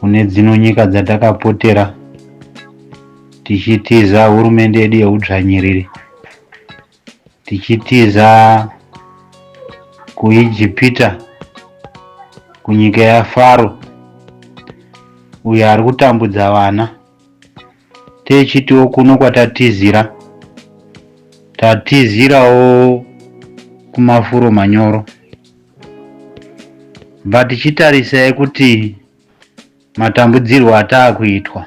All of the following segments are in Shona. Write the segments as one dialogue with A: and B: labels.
A: kune dzino nyika dzatakapotera tichitiza hurumende yedu yeudzvanyiriri tichitiza kuijipita kunyika yafaro uyo ari kutambudza vana Techitiwo kuno kwatatizira tatizirawo kumafuro manyoro but chitarisai kuti matambudzirwo ataakuitwa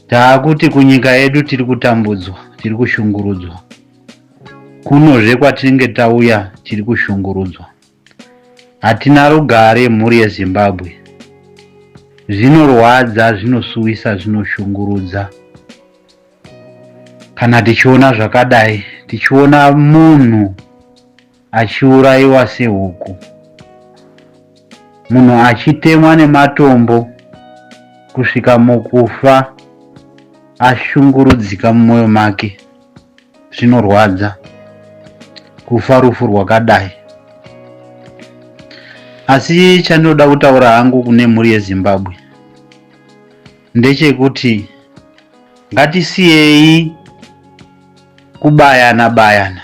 A: taakuti kunyika yedu tiri kutambudzwa tiri kushungurudzwa kunozve kwatinenge tauya tiri kushungurudzwa Hatina rugare mhuri yeZimbabwe. Zvinorwadza, zvinosuwisa, zvinoshungurudza kana tichiona zvakadai, tichiona munhu achiurayiwa sehuku, munhu achitemwa nematombo kusvika mukufa ashungurudzika mumwoyo make. zvinorwadza kufa rufu rwakadai asi chandinoda kutaura hangu kune mhuri yezimbabwe ndechekuti ngatisiyei kubayana bayana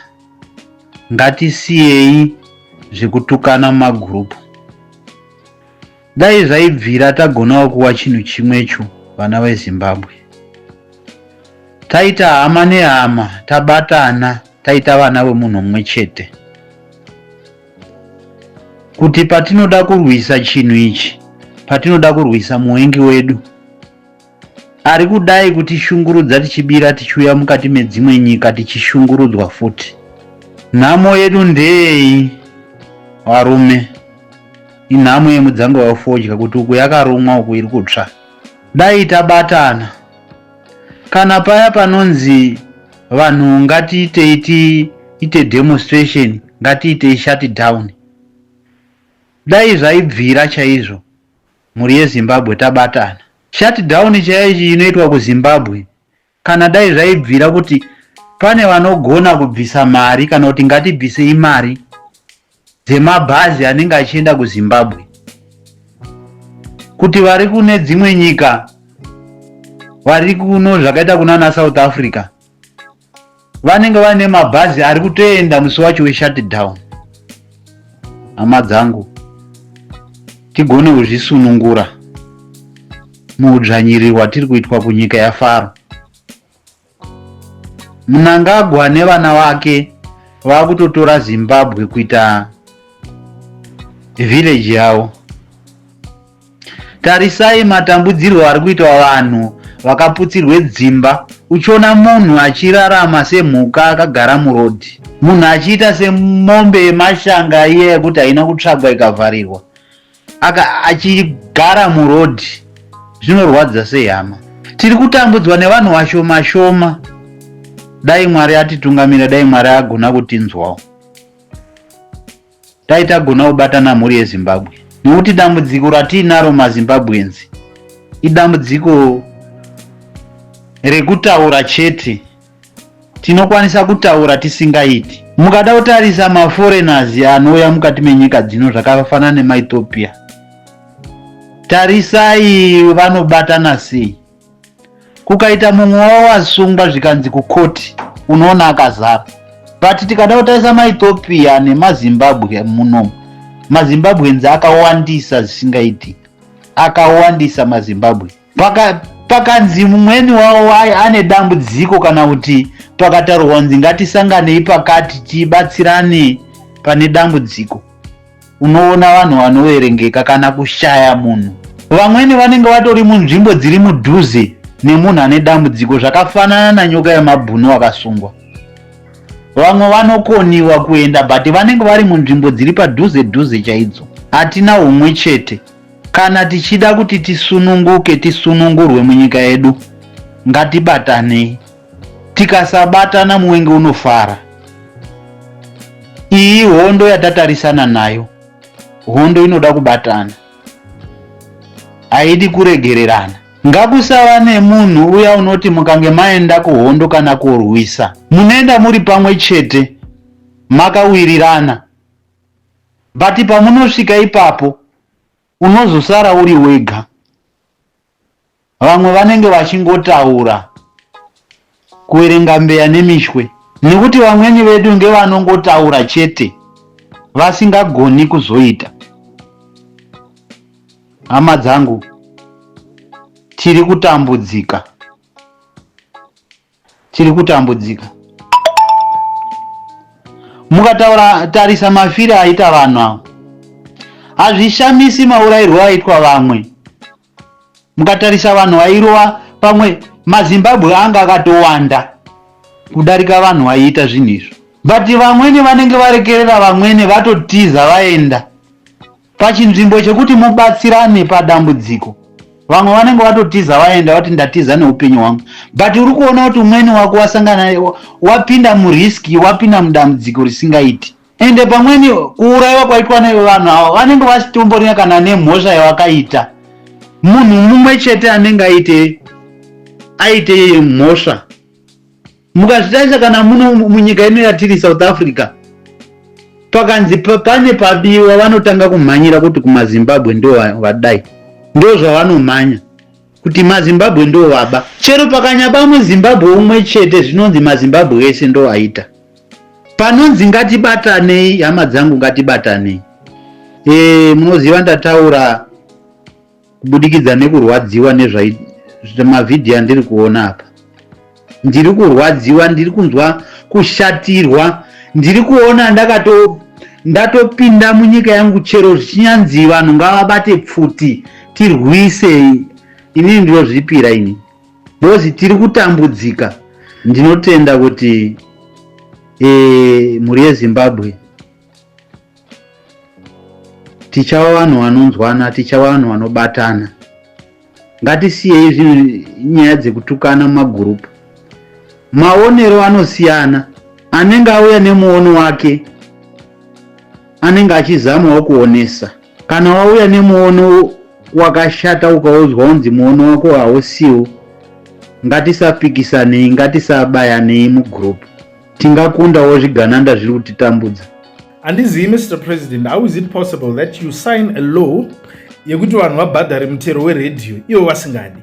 A: ngatisiyei zvekutukana mumagurupu Dai zvaibvira tagonawo kuwa chinhu chimwecho vana veZimbabwe. Taita hama nehama, tabatana, taita vana vemunhu mumwe chete. Kuti patinoda kurwisa chinhu ichi, patinoda kurwisa muvengi wedu, Ari kudai kutishungurudza tichibira tichiuya mukati medzimwe nyika tichishungurudzwa futi. Nhamo yedu ndeyeyi varume? Inhamo yemudzanga wefodya kuti uku yakarumwa uku iri kutsva. Dai tabatana. Kana paya panonzi vanhu ngatiitei tiite demonstration, ngatiitei shutdown. Dai zvaibvira chaizvo. Mhuri yeZimbabwe tabatana. Shut down chaichi inoitwa kuZimbabwe kana dai zvaibvira kuti pane vanogona kubvisa mari kana kuti ngatibvisei mari dzemabhazi anenge achienda kuzimbabwe kuti vari kune dzimwe nyika vari kuno zvakaita kunana south africa vanenge vaine mabhazi ari kutoenda musi wacho weshutdown hama dzangu tigone kuzvisunungura muudzvanyiriri hwatiri kuitwa kunyika yafaro munangagwa nevana vake vakutotora zimbabwe kuita village yavo Tarisai matambudzirwo ari kuitwa vanhu vakaputsirwe dzimba uchiona munhu achirarama semhuka akagara murodhi munhu achiita semombe yemashanga iye yekuti haina kutsvagwa ikavharirwa achigara murodhi zvinorwadza sehama tiri kutambudzwa nevanhu vashoma shoma dai mwari atitungamira dai mwari agona kutinzwawo dai tagona kubatana mhuri yezimbabwe nokuti dambudziko ratiinaro mazimbabweans idambudziko rekutaura chete tinokwanisa kutaura tisingaiti mukada kutarisa maforeigners anouya mukati menyika dzino zvakafanana nemaethiopia tarisai vanobatana sei kukaita mumwe wavo wasungwa zvikanzi kukoti unoona akazara but tikada kutarisa maethiopia nemazimbabwe muno mazimbabwenzi akawandisa zvisingaiti akawandisa mazimbabwe Paka, pakanzi mumweni wavo ane dambudziko kana kuti pakataurwa kunzi ngatisanganei pakati tibatsirane pane dambudziko unoona vanhu vanoverengeka kana kushaya munhu vamweni vanenge vatori munzvimbo dziri mudhuze nemunhu ane dambudziko zvakafanana nanyoka yemabhunu akasungwa vamwe vanokoniwa kuenda but vanenge vari munzvimbo dziri padhuze dhuze chaidzo hatina umwe chete kana tichida kuti tisununguke tisunungurwe munyika yedu ngatibatanei Tikasabatana muwenge unofara. Iyi hondo yatatarisana nayo hondo inoda kubatana, haidi kuregererana. Ngakusava nemunhu uya unoti mukange maenda kuhondo kana kurwisa munoenda muri pamwe chete makawirirana but pamunosvika ipapo Unozosara uri wega. Vamwe vanenge vachingotaura kuverenga mbeya nemishwe nekuti vamweni vedu ngevanongotaura chete vasingagoni kuzoita. Hama dzangu, tiri kutambudzika. tiri kutambudzika mukataura tarisa mafire aita vanhu avo hazvishamisi maurairwo aitwa vamwe mukatarisa vanhu vairova pamwe mazimbabwe anga akatowanda kudarika vanhu vaiita zvinhu izvo but vamwene vanenge varekerera vamwene vatotiza vaenda Pachinzvimbo chekuti mubatsirane padambudziko vamwe vanenge vatotiza vaenda vati ndatiza neupenyu hwangu but uri kuona kuti umweni wako wasangana wapinda murisk wapinda mudambudziko risingaiti ende pamweni kuurayiwa kwaitwa nevanhu avo vanenge vasitomborina kana nemhosva yavakaita munhu mumwe chete anenge aite aite mhosva Mukazvitarisa kana muno munyika ino yatiri South Africa, pakanzi pane pabiwa vanotanga kumhanyira kuti kumazimbabwe ndo vadai ndo zvavanomhanya kuti mazimbabwe ndo vaba chero pakanyaba muzimbabwe umwe chete zvinonzi mazimbabwe ese ndo aita panonzi ngatibatanei hama dzangu ngatibatanei e, munoziva ndataura kubudikidza nekurwadziwa nezvamavhidhiyo andiri kuona apa ndiri kurwadziwa ndiri kunzwa kushatirwa ndiri kuona ndakato ndatopinda munyika yangu chero zvichinyanzi vanhu ngavabate pfuti tirwise inini ndinozvipira ini bhozi tiri kutambudzika ndinotenda kuti e, mhuri yezimbabwe tichava vanhu vanonzwana tichava vanhu vanobatana ngatisiyei zvinhu nyaya dzekutukana mumagurupu maonero anosiyana anenge auya nemuono wake anenge achizamawo kuonesa kana wauya nemuono wakashata ukaudzwa unzi muono wako hausiwo ngatisapikisanei ngatisabayanei mugroup Tingakundawo zvigananda zviri kutitambudza. Handizivi
B: Mr President, how is it possible that you sign a law yekuti vanhu vabhadhare mutero weredhiyo ivo vasingadi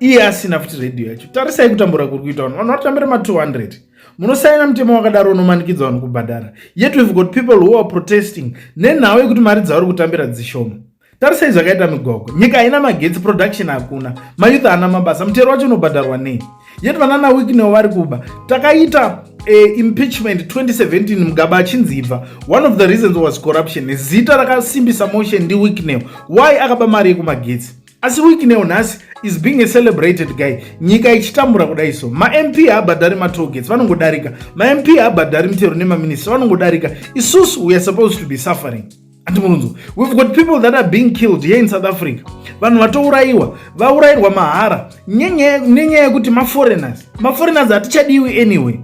B: iye asina futi redhiyo yacho tarisai kutambura kuri kuita vanhu vanhu vatambira ma200 munosaina mutemo wakadaro unomanikidza vanhu kubhadhara yet we've got people who are protesting nenhau yekuti mari dzavari kutambira dzishoma tarisai zvakaita migogo nyika haina magetsi production hakuna mayouth haana mabasa mutero wacho unobhadharwa nei yet vanana wiknewo vari kuba takaita uh, impeachment 2017 mugaba achinzi ibva one of the reasons was corruption zita rakasimbisa motion ndi wiknew why akaba mari yekumagetsi asi wiknew nhasi is being a celebrated guy nyika ichitambura kudai so mamp haabhadhari matogets vanongodarika mamp haabhadhari mitero nemaminista vanongodarika isusu weare supposed to be suffering ati munonzwa we've got people that are being killed here in south africa vanhu vatourayiwa vaurayirwa mahara nenyaya yekuti maforeigners maforeigners hatichadiwi anyway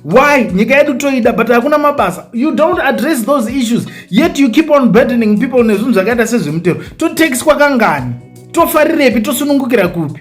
B: why nyika yedu toida but hakuna mabasa you don't address those issues yet you keep on burdening people nezvinhu zvakaita sezvemutero totax kwakangani tofarirepi tosunungukira kupi